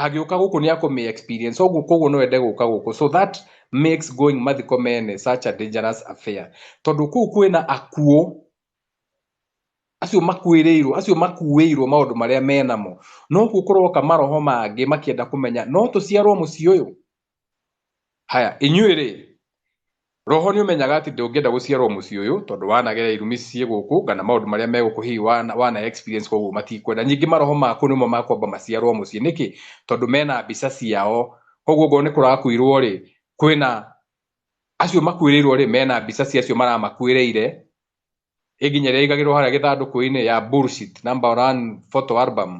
agĩũka gũkũ nĩ akũmĩ experience ũguo koguo no ende gũka gũkũ so that makes going mathiko mene such a dangerous affair tondũ kũu kwĩna akuũ Acio makuĩrĩirwo, acio makuĩirwo maũndũ marĩa menamo, nokuo kũroka maroho mangĩ makĩenda kũmenya no tũciarwo mũciĩ ũyũ? Haya, inyuĩ rĩ, roho nĩ ũmenyaga atĩ ndũngĩenda gũciarwo mũciĩ ũyũ tondũ wanagerera irumi ciĩ gũkũ kana maũndũ marĩa me gũkũ hihi wana experience koguo matikwenda. Ningĩ maroho maku nĩmo makwamba maciarwo mũciĩ nĩkĩ? Tondũ mena mbica ciao. Koguo okorwo nĩ kũrakuirwo rĩ, kwĩna acio makuĩrĩirwo rĩ mena mbica cia acio maramakuĩrĩire ĩginya rĩrĩa igagĩrwo harĩa gĩthandũkũ-inĩ ya bullshit number one photo album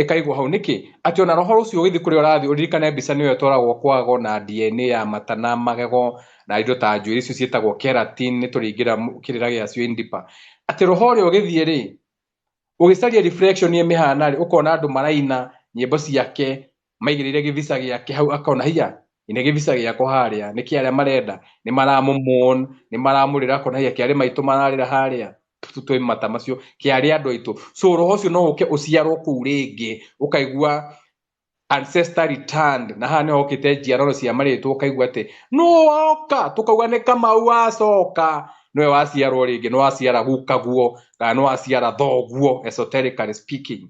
ĩkaigwo hau nĩkĩ atĩ ona roho ũcio ũgĩthiĩ kũrĩa ũrathiĩ ũririkane mbica nĩyo ĩtwaragwo kwago na DNA ya mata na magego na indo ta njuĩrĩ icio ciĩtagwo keratin nĩ tũringĩra kĩrĩra gĩacio indipa atĩ roho ũrĩa ũgĩthiĩ rĩ ũgĩcaria reflection ĩmĩhana rĩ ũkona andũ maraina nyĩmbo ciake maigirire givisa giake hau akona hiya ine givisa giako haria niki aria marenda ni maramumon ni maramurira akona hiya kiari maitu mararira haria tutwe mata macio kiari andu aitu so roho ucio no uke uciarwo kuu ringi ukaigua ancestor returned na haha niho okite njiaroro cia maritwo ukaigua ati no waoka tukauga ni kamau wacoka niwe waciarwo ringi ni waciara gukaguo kana ni waciara thoguo esoterically speaking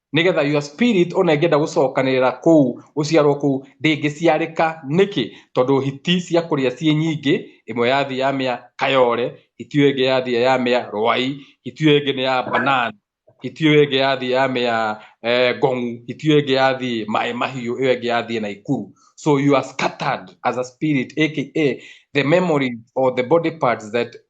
nigetha your spirit ona ingĩenda gũcokanĩrĩra kũu gũciarwo kũu ndĩngĩciarĩka nĩkĩ tondũ hiti cia kũrĩa ciĩ nyingĩ ĩmwe ya thĩ ya mĩa kayore hiti ĩyo ĩngĩ ya thĩ ya mĩa rwai hiti ĩyo ĩngĩ nĩ ya banana hiti ĩyo ĩngĩ ya thĩ ya mĩa eh, ngong'u hiti ĩyo ĩngĩ ya thĩ maĩ mahiũ ĩyo ĩngĩ ya thĩ na ikuru so you are scattered as a spirit aka the memories or the body parts that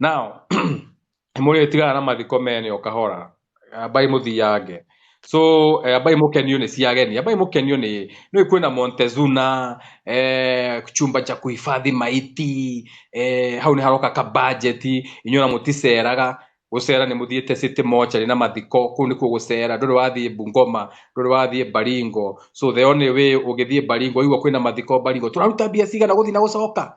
now mũrĩ tigana na mathiko mene o kahora ambai mũthiange so eh, ambai mũkenio nĩ cia ageni ambai mũkenio nĩ nĩ kwĩna Montezuna eh, chumba cha kuhifadhi maiti eh, hau nĩ haroka ka budget inyuĩ na mũticeraga gũcera nĩ mũthiĩte city mochari na mathiko kũu nĩkuo gũcera ndũrĩ wathiĩ bungoma ndũrĩ wathiĩ baringo so the only way ũngĩthiĩ baringo igua kwĩna mathiko baringo tũraruta mbia cigana gũthiĩ na gũcoka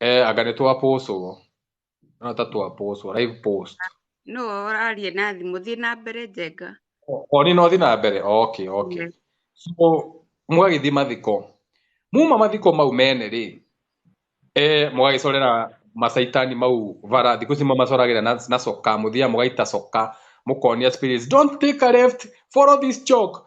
Eh, anga nä twapåcå no ta twapåcå live post no ũrarie na thimũ thiĩ na mbere njenga oni no thi na mbere okay okay Yes. so mwagĩthiĩ mathiko muma mathiko mau mene rĩ eh, mũgagĩcorera macaitani mau bara thikũ ici mamacoragĩra na, na coka mũthiaga mũgaita coka mũkonia spirits don't take a left follow this chalk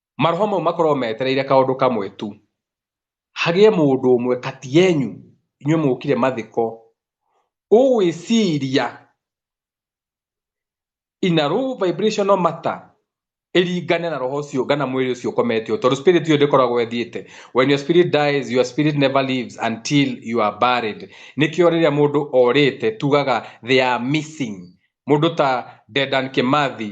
Maroho mau makoragwo metereire kaũndũ kamwe tu, hagĩe mũndũ ũmwe kati yenyu inyuĩ mũkire mathiko ũgwĩciria in a low vibrational matter ĩringane na roho ũcio kana mwĩrĩ ũcio ũkometio tondũ spirit ĩyo ndĩkoragwo ĩthiĩte when your spirit dies your spirit never lives until you are buried nĩkĩo rĩrĩa mũndũ orĩte tugaga they are missing mũndũ ta Dedan Kimathi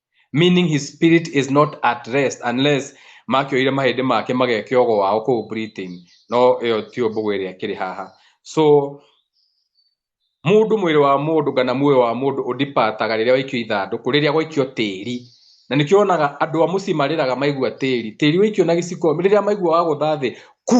meaning his spirit is not at rest unless makioire mahĩndĩ make magekio gwao kũu Britain no ĩyo ti ũmbũgũ ĩrĩa kĩrĩ haha so mũndũ mwĩrĩ wa mũndũ kana muoyo wa mũndũ ũdipataga rĩrĩa waikio ithandũkũ rĩrĩa gwaikio tĩri na nĩkĩo onaga andũ a mũciĩ marĩraga maigua tĩri tĩri waikio na gĩciko rĩrĩa maigua wagũtha thĩ ku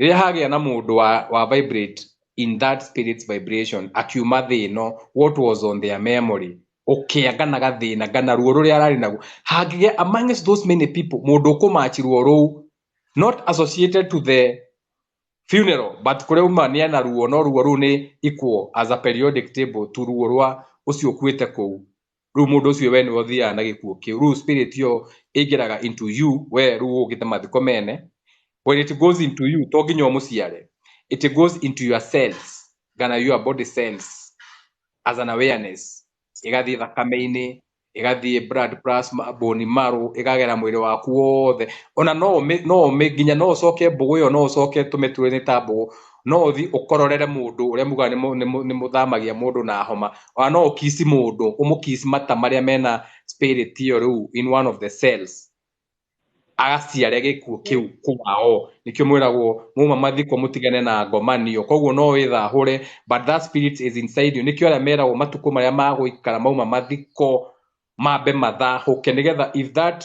rĩrĩa hagĩa na mũndũ wa, wa vibrate in that spirit's vibration akiuma thĩ ĩno what was on their memory ũkĩa kana gathĩna kana ruo rũrĩa ararĩ naguo hangĩgĩa amongst those many people mũndũ ũkũmachi ruo rũu not associated to the funeral but kũrĩa uma nĩ ana ruo no ruo rũu nĩ equal as a periodic table to ruo rwa ũcio ũkuĩte kũu rĩu mũndũ ũcio we nĩwe ũthiaga na gĩkuũ kĩu rĩu spirit ĩyo ĩingĩraga into you we rĩu ũgĩte mathiko mene when it goes into you to nginya ũmũciare it goes into your cells kana your body cells as an awareness ĩgathiĩ thakame-inĩ ĩgathiĩ blood plasma bone marrow ĩkagera mwĩrĩ waku wothe ona no ũmĩ- no ũmĩ- nginya no ũcoke mbũgũ ĩyo no ũcoke tũmĩtũrĩ ta mbũgũ no uthi ukororere mundu uria muga ni muthamagia mundu na homa ona no ukisi mundu umukisi mata maria mena spirit iyo riu in one of the cells agaciare gikuo kiu kwao nikio mwiragwo muma mathiko mutigane na ngomanio koguo no withahure but that spirit is inside you nikio aria meragwo matuko maria maguikara mauma mathiko mambe mathahũke nĩgetha if that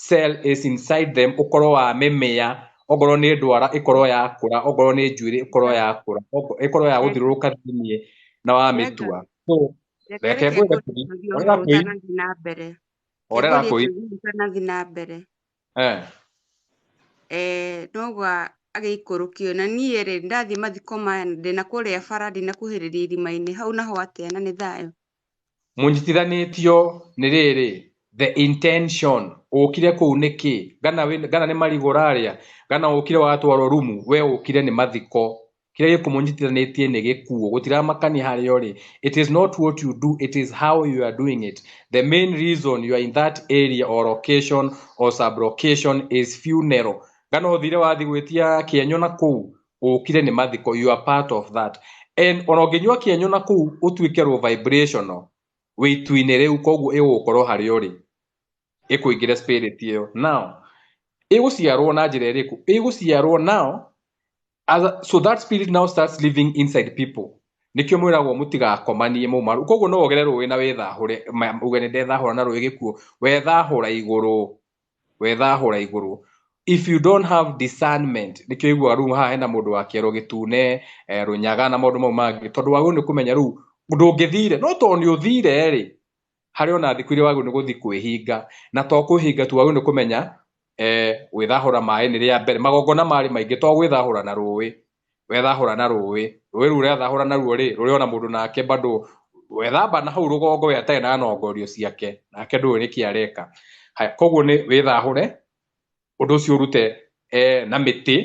cell is inside them ũkorwo wa mĩmĩa okorwo nĩ ndwara ĩkorwo ya kũra okorwo nĩ njuĩrĩ ĩkorwo ya kũra ĩkorwo ya gũthiũrũrũka thĩinĩ na wa mĩtua so reke ngwĩre kũri orera kũi na mbere orera kũi kanathi na mbere eh eh nogwa agĩikũrũkio na niĩ rĩ ndathiĩ mathiko maya ndĩna kũrĩa bara ndĩna kuhĩrĩria irima-inĩ hau naho atĩa na nĩ thayũ mũnyitithanĩtio nĩ rĩrĩ the intention ũkire kũu nĩkĩ gana, wĩ- gana nĩ marigũ ũrarĩa gana ũkire watwarwo rumu we ũkire nĩ mathiko kĩrĩa gĩkũmũnyitithanĩtie nĩ gĩkuũ gũtiramakania harĩa ũrĩ it is not what you do it is how you are doing it the main reason you are in that area or location or sublocation is funeral gana ũthire wathi gwĩtia kĩenyo na kũu ũkire nĩ mathiko you are part of that and ona ũngĩnyua kĩenyũ na kũu ũtuĩke rwo vibrational wĩtu-inĩ rĩu koguo ĩgũgũkorwo harĩa ũrĩ ĩkũingĩre spirit ĩyo now ĩgũciarwo na njĩra ĩrĩkũ ĩgũciarwo now as a, so that spirit now starts living inside people nĩkĩo mwĩragwo mũtigakomanie mũmaru koguo no wogere rũĩ na wĩthahũre ma- uge nĩ ndethahũra na rũĩ gĩkuo wethahũra igũrũ wethahũra igũrũ if you don't have discernment nĩkĩo iguaga rĩu haha hena mũndũ wa kĩero gĩtune eh, rũnyaga na maũndũ mau mangĩ tondũ wagĩrĩirwo nĩ kũmenya rĩu ndũngĩthire no tondũ nĩ ũthire rĩ harĩ ona thikũ iria wagĩrĩirwo nĩ gũthiĩ kwĩhinga na to kwĩhinga tu wagĩrĩirwo nĩ kũmenya eh, gwĩthahũra maĩ nĩ rĩa mbere magongona marĩ maingĩ to gwĩthahũra na rũĩ wethahũra na rũĩ rũĩ rũu ũrethahũra naruo rĩ rũrĩ ona mũndũ nake bado wethamba na hau rũgongo we atarĩ na nongorio ciake nake ndũĩ nĩkĩ areka haya koguo nĩ wĩthahũre ũndũ ũcio ũrute eh, na mĩtĩ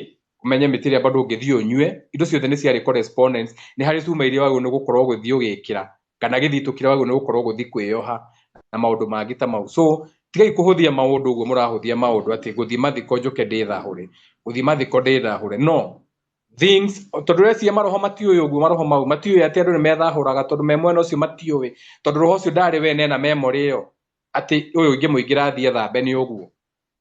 ũmenye mĩtĩ ĩrĩa bado ũngĩthiĩ ũnyue indo ciothe nĩ ciarĩ correspondence nĩ harĩ cuma iria wagĩrĩirwo nĩ gũkorwo ũgĩthiĩ ũgĩkĩra kana githii tukiraga uguo ni gukorwo guthi kwiyoha na maundu mangi ta mau so tigai kuhuthia maundu uguo murahuthia maundu ati guthi mathiko njuke ndithahure guthi mathiko ndithahure no things tondu reciria maroho matiui uguo maroho mau matiui ati andu ni methahuraga tondu me mwena ucio matiui tondu roho ucio ndari we nena memory iyo ati uyu ngimuingira athie thambe ni uguo